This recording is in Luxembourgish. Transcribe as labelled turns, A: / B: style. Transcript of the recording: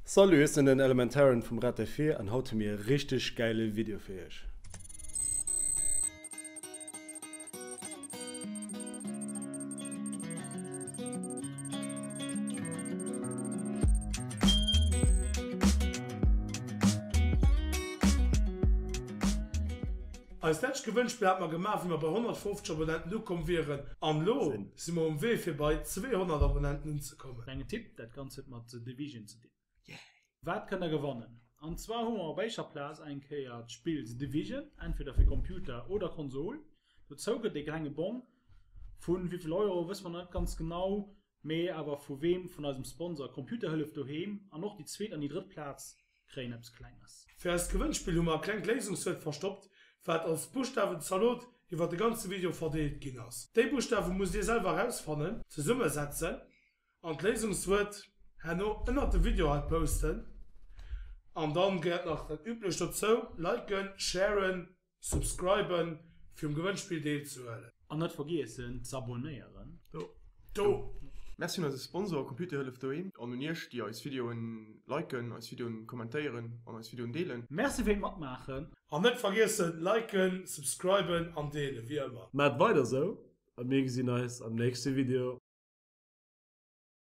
A: Salut, ech sinn den Elementaren vum Red Défi an haut hu mir e richteg gäile Video fir iech. Eist letscht Gewënnspill hat mer gemaach wéi mer bei 150 Abonnenten ukomm wieren an lo si mer um Wee fir bei 200 Abonnenten unzekommen. kommen. Klengen Tipp, dat Ganzt huet mat The Division ze dinn. Yay! Wat kënnt der gewannen? An zwar hu mer op éischer Plaz eng Kéier d'Spill The Division, entweder fir Computer oder Konsol. Dozou gëtt ee klenge Bong vu wéi vill Euro wësse mer nach net ganz genau, mee awer vu weem, vun eisem Sponsor Computerhëllef Doheem. An och déi zweet an déi drëtt Plaz kréien eppes Klenges. Fir eist Gewënnspill hu mer e klengt Léisungswuert verstoppt, wat als Buschtawen-Zalot iwwer de ganze Video verdeelt ginn ass. Déi Buschtawe musst dir selwer erausfannen, zesummesetzen an d'Léisungswuert herno ënnert de Video hei posten. An dann gehéiert nach dat Üblecht dozou, Liken, Sharen, Subscriben fir um Gewënnspill deel ze huelen. An net vergiessen z'abonnéieren do. Merci un eise Sponsor Computerhëllef Doheem an un iech déi eis Videoen liken, eis Videoen kommentéieren an eis Videoen deelen. Merci fir d'Matmaachen. An net vergiessen liken, subscriben an deelen wéi ëmmer. Maacht weider esou a mir gesinn eis am nächste Video.